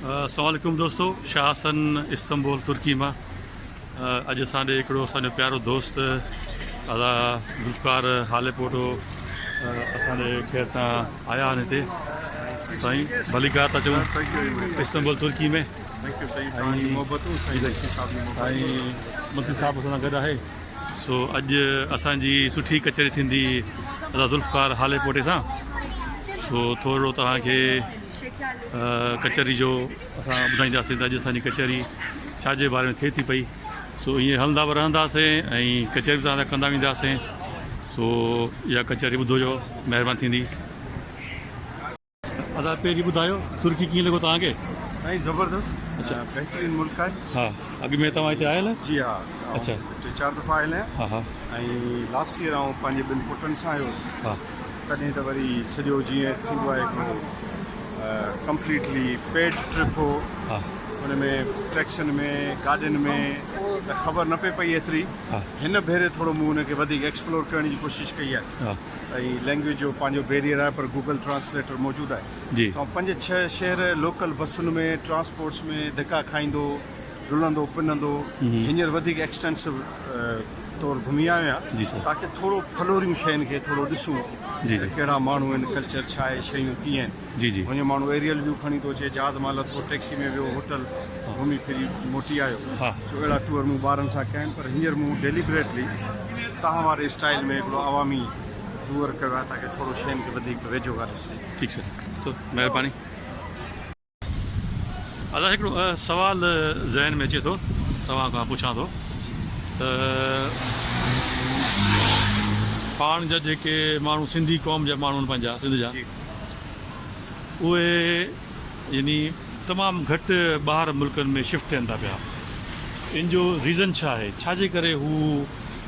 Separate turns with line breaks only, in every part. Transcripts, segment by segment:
السلام عليڪم دوستو شاهه حسن استنبول ترڪي مان اڄ اسان ڏي هڪڙو اسان جو پيارو دوست ادا ذوالفقار حالي پوٽو اسان ڏي خير تان آيا آهن هتي سائين ڀليڪار ٿا چون استنبول ترڪي ۾ منتري صاحب اسان گڏ آهي سو اڄ اسان جي سٺي کچري ٿيندي ادا ذوالفقار حالي پوٽي سان سو ٿورو توهان کي ڪچهري جو اسان ٻڌائينداسين ته اڄ اسان جي ڪچهري ڇا جي باري ۾ ٿئي ٿي پئي سو ائين هلندا به رهنداسين ۽ ڪچهري به تهان ڪندا وينداسين سو اها ڪچهري ٻڌو جو مهرباني ٿيندي ادا پهرين ٻڌايو ترڪي ڪيئن لڳو تهان کي سائين زبردست
اچھا بهترين
ملڪ آهي
ها اڳ ۾ توهان
هتي آيل جي ها اچھا
ٽي چار
دفعا آيل آهيان
ها ها ۽
لاسٽ
ايئر آئون پنهنجي ٻن پٽن سان آيو هوس ها تڏهن
ته وري
سڄو جيئن ٿيندو آهي هڪڙو ڪمپليٽلي پيڊ ٽرپ هو ان
۾
ٽيڪسين ۾ گاڏين ۾ ته خبر نه پئي پئي ايتري هن ڀيري
ٿورو
مون ان کي وڌيڪ ايڪسپلور ڪرڻ جي ڪوشش ڪئي آهي ۽
لينگويج
جو پنهنجو بيريئر آهي پر گوگل ٽرانسليٽر موجود آهي جي پنج ڇهه شهر لوڪل بسن ۾ ٽرانسپورٽس ۾ ڌڪا کائيندو رلندو پنندو هينئر وڌيڪ ايڪسٽينسو طور گهمي آيو آهيان تاڪي ٿورو
ڦلوريون
شين کي ٿورو ڏسون ته ڪهڙا
ماڻهو
آهن
ڪلچر
ڇا آهي شيون ڪيئن آهن هونئن ماڻهو ايريل
ويو کڻي
ٿو اچي جهاز مان لٿو ٽيڪسي ۾ ويو هوٽل گهمي ڦري موٽي آيو سو اهڙا ٽوئر
مون
ٻارن سان ڪيا آهن پر هينئر مون ڊيليبريٽلي تهان واري اسٽائيل ۾ هڪڙو عوامي ٽوئر ڪيو آهي تاڪي ٿورو شين کي وڌيڪ ويجهو کان ڏسجي ٺيڪ سر سو
مهرباني. الله هڪڙو سوال ذهن ۾ اچي ٿو توهان کان پڇان ٿو ته پاڻ جا جيڪي ماڻهو سنڌي قوم جا ماڻهو آهن پنهنجا سنڌ جا اهي يعني تمام گهٽ ٻاهر ملڪن ۾ شفٽ ٿين ٿا پيا ان جو ريزن ڇا آهي ڇا جي ڪري هو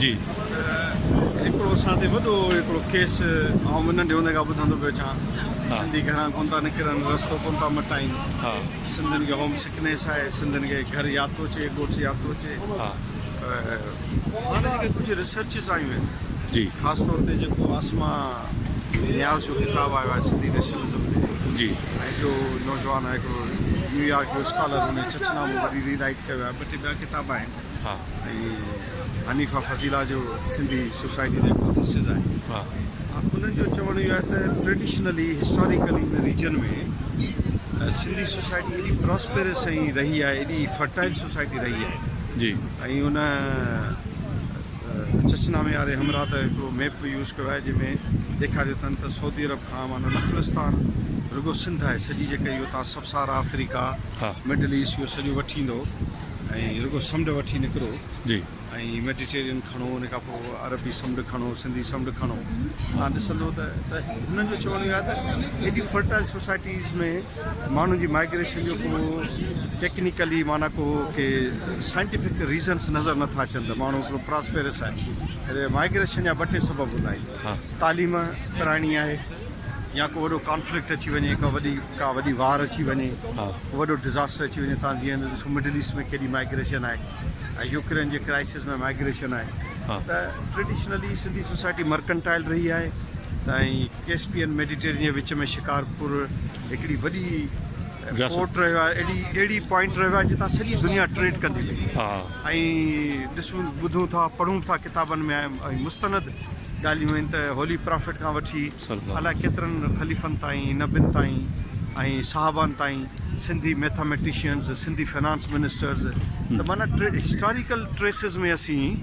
جي هڪڙو اسان تي وڏو هڪڙو ڪيس آئون به ننڍي هوندي کان ٻڌندو پيو اچان سنڌي گهران ڪون ٿا نڪرن رستو ڪون ٿا مٽائين سنڌين
کي هوم
سڪنيس آهي سنڌين کي گهر ياد ٿو اچي ڳوٺ ياد ٿو اچي هاڻ جيڪي ڪجهه ريسرچز آيون آهن جي خاص طور
تي جيڪو
عاصمه نياز جو ڪتاب آيو آهي سنڌي نيشنلزم تي جي ۽ جو نوجوان آهي هڪڙو نيويارڪ جو اسڪالر هن ڇڇ نامو وري ري رائيٽ ڪيو آهي ٻه ٽي ٻيا ڪتاب آهن ۽ حنيفه فضيله جو سنڌي سوسائٽي جو هڪڙو ٿيسز آهي انهن
جو
چوڻ اهو آهي ته ٽريڊيشنلي هسٽاريڪلي ان ريجن ۾ سنڌي سوسائٽي ايڏي پراسپيرس ۽ رهي آهي ايڏي فرٽائل سوسائٽي رهي آهي جي ۽
ان
چچنامي واري همراهه ته هڪڙو ميپ يوز ڪيو آهي جنهن ۾ ڏيکاريو اٿن ته سعودي عرب کان معنی نخلستان رڳو سنڌ آهي سڄي جيڪا اهو تان سبسارا آفريڪا مڊل
ايسٽ اهو سڄو
وٺيندو ۽ رڳو سمنڊ وٺي نڪرو جي ۽
ميڊيٽيرين
کڻو ان کان پوء عربي سمنڊ کڻو سنڌي سمنڊ کڻو تان ڏسندو ته ته هنن جو چوڻ اهو آهي ته ايڏي فرٽائل سوسائٽيز ۾ ماڻهن جي مائگريشن جو ڪو ٽيڪنيڪلي معنی ڪو ڪي سائنٽيفڪ ريزنس نظر نٿا اچن ته ماڻهو هڪڙو پراسپيرس آهي مائگريشن جا ٻه ٽي سبب هوندا آهن تعليم ڪرائڻي آهي يا ڪو وڏو ڪانفلڪٽ اچي وڃي ڪا وڏي ڪا وڏي وار اچي وڃي وڏو
ڊزاسٽر
اچي وڃي تان جيئن ڏسو مڊل ايسٽ ۾ ڪيڏي مائگريشن آهي ۽ يوڪرين جي ڪرائسس ۾ مائگريشن آهي ته
ٽريڊيشنلي
سنڌي سوسائٽي مرڪنٽائل رهي آهي ته ۽ ڪيسپين ميڊيٽيرين جي وچ ۾ شڪارپور هڪڙي وڏي پورٽ رهيو آهي اهڙي اهڙي پوائنٽ رهيو آهي جتان سڄي دنيا ٽريڊ ڪندي رهي ۽ ڏسون ٻڌون ٿا پڙهون ٿا ڪتابن ۾ مستند ڳالهيون آهن ته هولي پرافيٽ کان وٺي الائي ڪيترن خليفن تائين، نبين تائين ۽ صحابن تائين Sindhi mathematicians, Sindhi finance ministers ته معنيٰ هسٽاريڪل ٽريسز ۾ اسين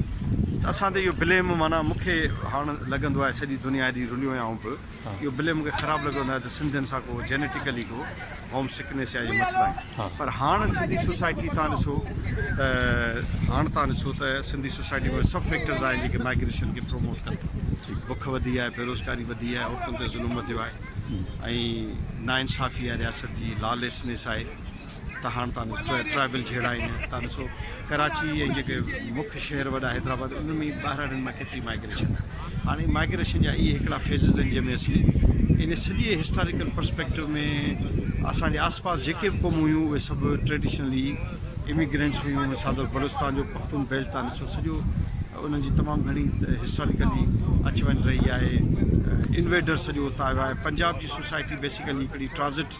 ته اسان تي اهو بليم معنيٰ مون کي هاڻ لڳندو آهي سڄي دنيا ايڏي رليو آهيان آئون به. اهو بلي مونکي خراب لڳو هوندو آهي ته سنڌين سان ڪو جينيٽيڪلي ڪو هوم سڪنيس يا اهي مسئلا آهن پر هاڻ سنڌي سوسائٽي تان ڏسو ته هاڻ تان ڏسو ته سنڌي سوسائٽي ۾ سڀ فيڪٽرز آهن جيڪي مائگريشن کي پروموٽ ڪن ٿا بک وڌي آهي بيروزگاري وڌي آهي عورتن تي ظلم وڌيو آهي ۽ نا انصافي آهي رياست جي لا ليسنيس آهي ته هاڻ تان ڏسو ٽرائبل جهيڙا آهن تان ڏسو ڪراچي ۽ جيڪي مک شهر وڏا حيدرآباد ان ۾ ٻاهراڙين مان ڪيتري مائگريشن آهي هاڻي مائگريشن جا اهي هڪڙا فيزز آهن جنهن ۾ اسين ان سڄي هسٽاريڪل پرسپيڪٽو ۾ اسانجي آس پاس جيڪي به قومون هيون اهي سڀ ٽريڊيشنلي اميگرينٽس هيون مثال طور بلوچستان جو پختون بيلٽ تان ڏسو سڄو انهن جي تمام گهڻي هسٽاريڪلي اچ وڃ رهي آهي انويڊر سڄو اتان آيو آهي پنجاب جي سوسائٽي بيسيڪلي هڪڙي ٽرانزٽ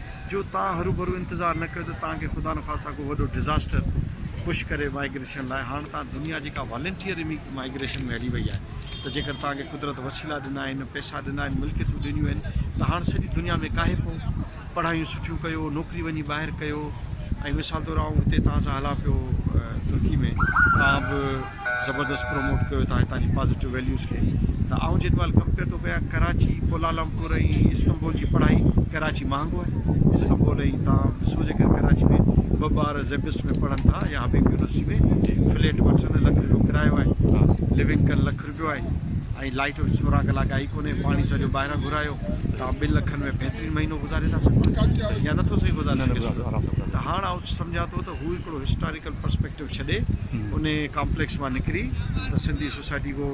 جو توهان هروڀرو انتظار نه ڪيو ته توهان کي خدا نخواسته ڪو وڏو ڊزاسٽر پش ڪري مائگريشن لاء هاڻ توهان دنيا جيڪا والنٽيئر مائگريشن ۾ هلي وئي آهي ته جيڪر توهان کي قدرت وسيلا ڏنا آهن پئسا ڏنا آهن ملڪيتون ڏنيون آهن ته هاڻ سڄي دنيا ۾ ڪاهي پئو پڙهايون سٺيون ڪيو نوڪري وڃي ٻاهر ڪيو ۽ مثال طور آئون هتي توهان سان هلان پيو ترڪي ۾ توهان به زبردست پروموٽ ڪيو ٿا هتان جي پازيٽو ويليوز کي ته آئون جن مهل ڪمپيئر ٿو ڪيان ڪراچي ڪولالمپور ۽ استنبول جي پڙهائي ڪراچي مهانگو آهي استنبول ۽ تان سو جي ڪري ڪراچي ۾ ٻه ٻار زيبسٽ ۾ پڙهن ٿا يا حبيب يونيورسٽي ۾ فليٽ وٺن لک رپيو ڪرايو آهي لوينگ ڪن لک رپيو آهي ۽ لائيٽ سورهن ڪلاڪ آئي ڪونهي پاڻي سڄو ٻاهران گهرايو تان ٻن لکن ۾ بهترين مهينو گذاري ٿا سگهو يا نٿو سهي گذاري سگهي ته هاڻ آئون سمجهان ٿو ته هو هڪڙو هسٽاريڪل پرسپيڪٽو ڇڏي انهي ڪامپليڪس مان نڪري ته سنڌي سوسائٽي ڪو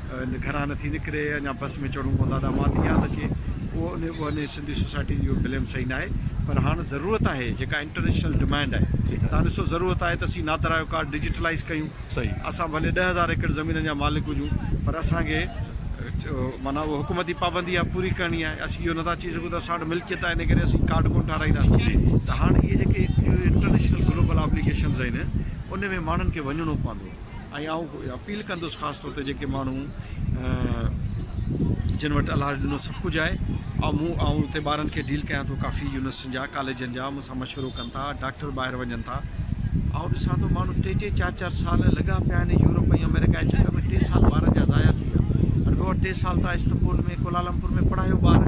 گهران نه ٿي نڪري اڃا بس ۾ چڙهون ڪو لاڏا مان ٿي ياد اچي اهو انهي سنڌي سوسائٽي جي اهو بليم صحيح ناهي پر هاڻ ضرورت آهي جيڪا انٽرنيشنل ڊمانڊ آهي تهان ڏسو ضرورت آهي ته اسين نادرا جو ڪارڊ ڊجيٽلائيز ڪيون اسان ڀلي
ڏهه هزار
ايڪڙ زمينن جا مالڪ هجون پر اسان کي معنيٰ اهو حڪومتي پابندي آهي پوري ڪرڻي آهي اسين اهو نه ٿا چئي ڪري سگهون ٿا ساڻ ملڪيت آهي ان ڪري اسين ڪارڊ ڪونه ٺاهرائينداسين جي ته هاڻ اهي جيڪي ڪجهه انٽرنيشنل گلوبل آبليگيشنز آهن ان ۾ ماڻهن کي وڃڻو پوندو ۽ آئون اپيل ڪندس خاص طور تي جيڪي ماڻهو جن وٽ الاج ڏنو سڀ ڪجهه آهي آئون آئون اتي ٻارن کي ڊيل ڪيان ٿو ڪافي يونيورسٽين جا ڪاليجن جا ٿا مشورو ڪن ٿا ڊاڪٽر ٻاهر وڃن ٿا آئون ڏسان ٿو ماڻهو ٽي ٽي چار چار سال لڳا پيا آهن يورپ ۽ امريڪا جي چڪر ۾ ٽي سال ٻارن جا ضايع ٿي ويا هر ٻه ٽي سال تان استبول ۾ ڪولالمپور ۾ پڙهايو ٻار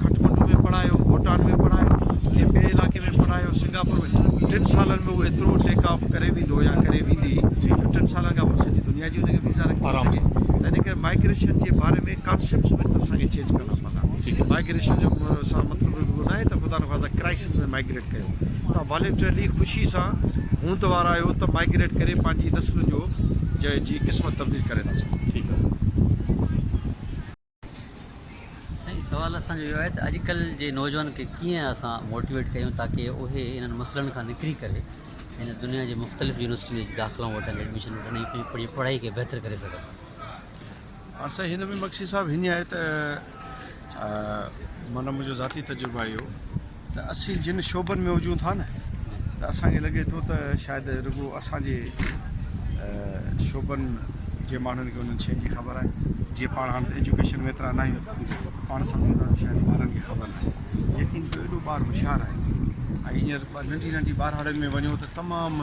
کٽمنڊو ۾ پڙهايو بوٽان ۾ پڙهايو ڪنهن ٻئي علاقي ۾ پڙهايو سنگاپور ۾ ٽن سالن ۾ هو ايترو ٽيڪ آف ڪري ويندو يا ڪري ويندي جو ٽن سالن کان پوء سڄي دنيا جي هن کي ويزا رکي سگهي ته ان ڪري مائگريشن جي باري ۾ ڪانسيپٽس به اسان کي چينج ڪرڻا پوندا مائگريشن جو سان مطلب اهو ناهي ته خدا نخواسته ڪرائسز ۾ مائگريٽ ڪيو تون والنٽرلي خوشي سان هوند وارا آهيو ته مائگريٽ ڪري پنهنجي نسل جو جي جي قسمت تبديل ڪري ٿا
سگهو
ٺيڪ آهي سائين سوال اسان جو اهو آهي ته اڄڪلهه جي نوجوان کي ڪيئن اسان موٽيويٽ ڪيون تاڪي اهي انهن مسئلن کان نڪري ڪري هن دنيا جي مختلف يونيورسٽين جي داخلائون وٺن ايڊميشن وٺن ۽ پنهنجي پڙهائي کي بهتر ڪري سگهن
ھا سائين ھن ۾ مگسي صاحب ھينئن آھي ته معنيٰ منھنجو ذاتي تجربو اھو ته اسين جن شعبن ۾ ھجون ٿا نه ته اسان کي لڳي ٿو ته شايد رڳو اسان جي شعبن جي ماڻھن کي انھن شين جي خبر آھي جيئن پاڻ ھاڻ ايجوڪيشن ۾ ايترا ناھيون ته پاڻ سمجھون ٿا ته شايد ٻارن کي خبر ناھي ليڪن جو ايڏو ٻار ھوشيار آھي ۽ ھينئر ننڍي ننڍي ٻارھاڙين ۾ وڃو ته تمام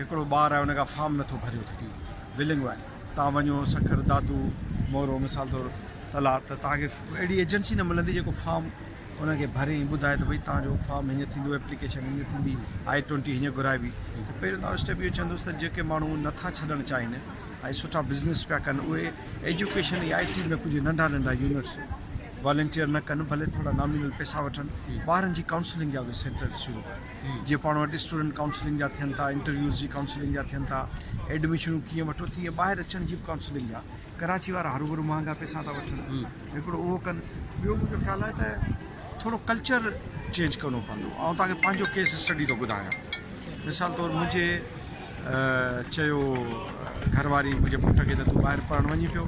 هڪڙو ٻار آهي ان کان فارم نه ٿو ڀريو ٿڪي ولنگ وائي تان وڃو سکر دادو مورو مثال طور تلا ته تان کي اهڙي ايجنسي نه ملندي جيڪو فارم ان کي ڀري ۽ ٻڌائي ته ڀئي تان جو فارم هيئن ٿيندو ايپليڪيشن هيئن ٿيندي آئي ٽوئنٽي هيئن گهرائبي ته پهريون تان اسٽيپ اهو چوندس ته جيڪي ماڻهو نه ٿا ڇڏڻ چاهين ۽ سٺا بزنس پيا ڪن اهي ايجوڪيشن ۽ آئي ٽي ۾ ڪجهه ننڍا ننڍا يونٽس والنٽيئر نه ڪن ڀلي ٿورا نامينل پيسا وٺن ٻارن جي ڪائونسلنگ جا به سينٽرس شروع ڪن جيئن پاڻ وٽ اسٽوڊنٽ ڪائونسلنگ جا ٿين ٿا انٽرويوز جي ڪائونسلنگ جا ٿين ٿا ايڊمشنون ڪيئن وٺو تيئن ٻاهر اچڻ جي به ڪائونسلنگ جا ڪراچي وارا هر ڀرو مهانگا پئسا ٿا وٺن هڪڙو اهو ڪن ٻيو منهنجو خيال آهي ته ٿورو ڪلچر چينج ڪرڻو پوندو آئون توهان کي پنهنجو ڪيس اسٽڊي ٿو ٻڌايان مثال طور منهنجي چيو گهر واري منهنجي پٽ کي ته تون ٻاهر پڙهڻ وڃي پيو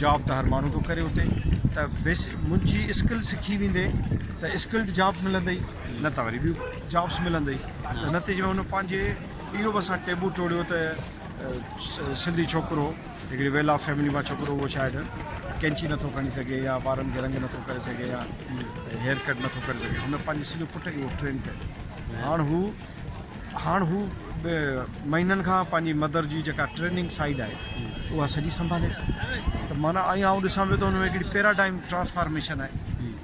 جاب ته هر ماڻهو ٿو ڪري اتي ته بيس منهنجي اسڪل سکي ويندي ته اسڪلڊ جاب ملندئي نه ته وري ٻيون جابس ملندئي ته نتيجي ۾ هن پنهنجي اهو به اسان ٽيبو ٽوڙيو ته سنڌي ڇوڪرو هڪڙي ويل آف فيملي مان ڇوڪرو اهو شايد ڪينچي نٿو کڻي سگهي يا وارن کي رنگ نٿو ڪري سگهي يا هيئر ڪٽ نٿو ڪري سگهي هن پنهنجي سڄو پٽ کي اهو ٽرين ڪيو هاڻ هو هاڻ هو مهينن کان پنهنجي مدر جي جيڪا ٽريننگ سائيڊ آهي اها سڄي سنڀالي ٿو ته معنيٰ ائين آئون ڏسان پيو ته ان ۾ هڪڙي پيراڊائم ٽرانسفارميشن آهي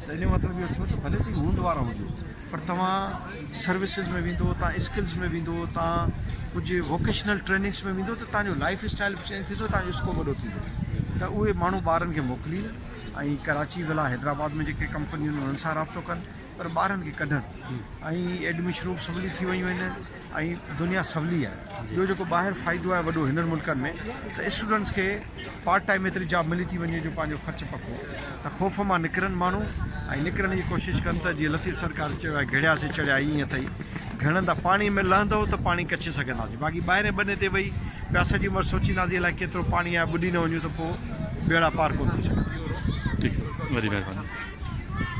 ته ان جو مطلب اهو ٿيو ته ڀلي تون هوند وارا هجو پر توهان سروسز ۾ ويندو توهان اسڪلز ۾ ويندو توهان ڪجهه ووڪيشنل ٽريننگس ۾ ويندو ته تنهنجو لائف اسٽائل به چينج ٿيندو تنهنجو اسڪوپ وڏو ٿيندو ته اهي ماڻهو ٻارن کي موڪلين ۽ ڪراچي ولا حيدرآباد ۾ جيڪي ڪمپنيون انهن سان رابطو ڪن پر ٻارن کي ڪڍڻ ۽ ايڊميشن روم سولي ٿي ويون آهن ۽ دنيا سولي آهي ٻيو جيڪو ٻاهر فائدو آهي وڏو هنن ملڪن ۾ ته اسٽوڊنٽس کي پارٽ ٽائيم ايتري جاب ملي ٿي وڃي جو پنهنجو خرچ پڪو ته خوف مان نڪرن ماڻهو ۽ نڪرڻ جي ڪوشش ڪن ته جيئن لطيف سرڪار چيو آهي گهڙيا سي چڙهيا ائين اٿئي گهڙندا پاڻي ۾ لهندو ته پاڻي ڪڇي سگهنداسي باقي ٻاهرين ٻني تي ويهي پيا سڄي عمر سوچينداسي الائي ڪيترو پاڻي آهي ٻڏي نه وڃون ته پوء ٻيڙا
پار ڪونه
ٿي سگهندا ٺيڪ وڏي
مهرباني